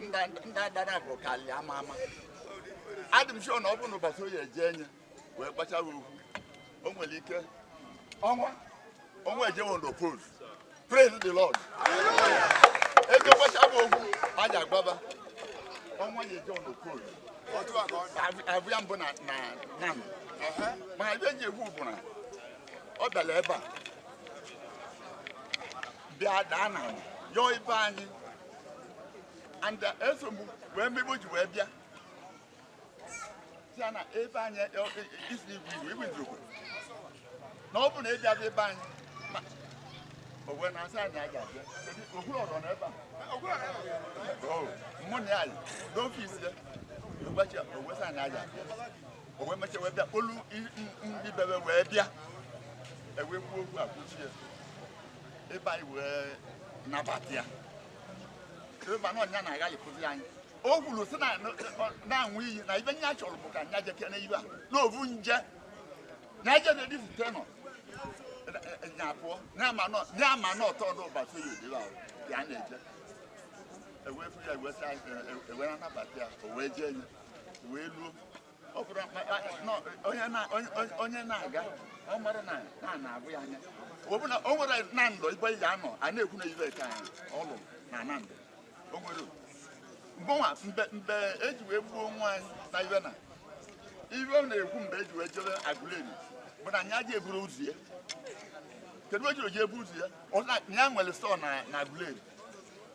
ndị adara bụ kalị ama ama adị m sure na ọ bụ na ụbọchị Oye eje enye wee gbachawa okwu o nwere ike ọnwa ọnwa ejewo ndo pose praise the lord ego gbachawa okwu a ji agbaba ọnwa ya ejewo ndo pose abụ ya mbụ na na na mana ive ji egwu bụ na ọ bịara ebe a bịa daa ana yọọ ibe anyị and uh, eso m wee mebe o ji wee bịa si ya na ebe anyị e- e- isi igwe igwe igwe izugbe na ọ bụ na ịbịa ebe anyị ma o wee na-asị na ya ga-abịa Kedu okwu ọrọ na ebe a Oh, mụ na ya yi n'ọfịs ya ụbọchị o wee sị na ya ga-abịa o wee mechaa wee bịa kpolu i- m- m- ibebe wee bịa ewee kwuo okwu a kwusie ebe anyị wee nabata ya ebe na ọnya na agaghị kụzi anyị o kwuru sị na- na- na-aṅụ iyi na ive nya chọrọ bụ ka nya jeke na ibe a n'ovu nje na eje na edifute nọ nya pụọ na-ama nọ na-ama nọ ọtọ ọdụ ụbọchị Oye odibe ahụ ya na-eje ewee fụ ya e wee sị anyị ewe na-anabata ya o wee jee nye wee luo ọ bụrụ akpakpa na onye na- onye- onye- onye na-aga ọ mara na na na-abụ ya anya ọ bụ na o nwere Nando ibe ya anọ a na-ekwu na ive ka ọ lụrụ na Nando o nwere mgbanwa mbe mbe eji wee gbuo nwa anyị na ive na ive ọ na-ekwu mgbe eji wee jebe Aguleri bụ na nya ja-eburu ụzọ ya kedu o jiri ji ebu ụzọ ya ọ na ya nwere store na na Aguleri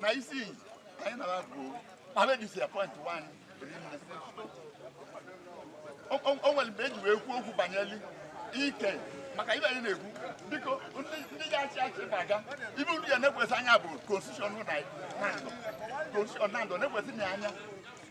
na isi anyị na bụ abedisi appoint nwanyị o nwere mgbe eji wee kwuo okwu banyere ike maka ive anyị na-ekwu biko ndị ga-achị achị na-aga ive unu ya na-elekwasị anya bụ constitution Nando constitution Nando na-ekwesị na anya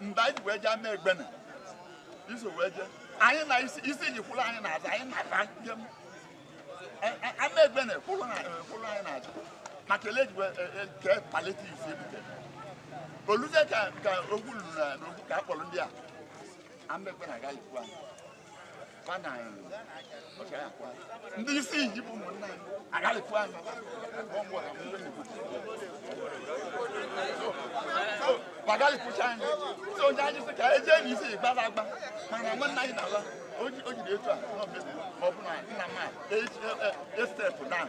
mgbe anyị ji wee jee ama egbene iso wee jee anyị na isi isi ji kwụrụ anyị n'azụ anyị na-aba njem A- a- ama egbene kwụrụ na- eh, kwụrụ anyị n'azụ ma kelee ji wee eh, eh, kee palliative ebute oluze ka ka okwu luru na na okwu ka a kpọrọ ndị a ama egbene agaghị ikwu anyị ndị Isinyi bụ ụmụnna anyị agharịpụ anyị ma gharịpụcha anyị si onye anyị sị ka e jee n'isi gbara agba mana nwanne anyị na-ala o jiri etu a ọ bụ na nna m a e-step down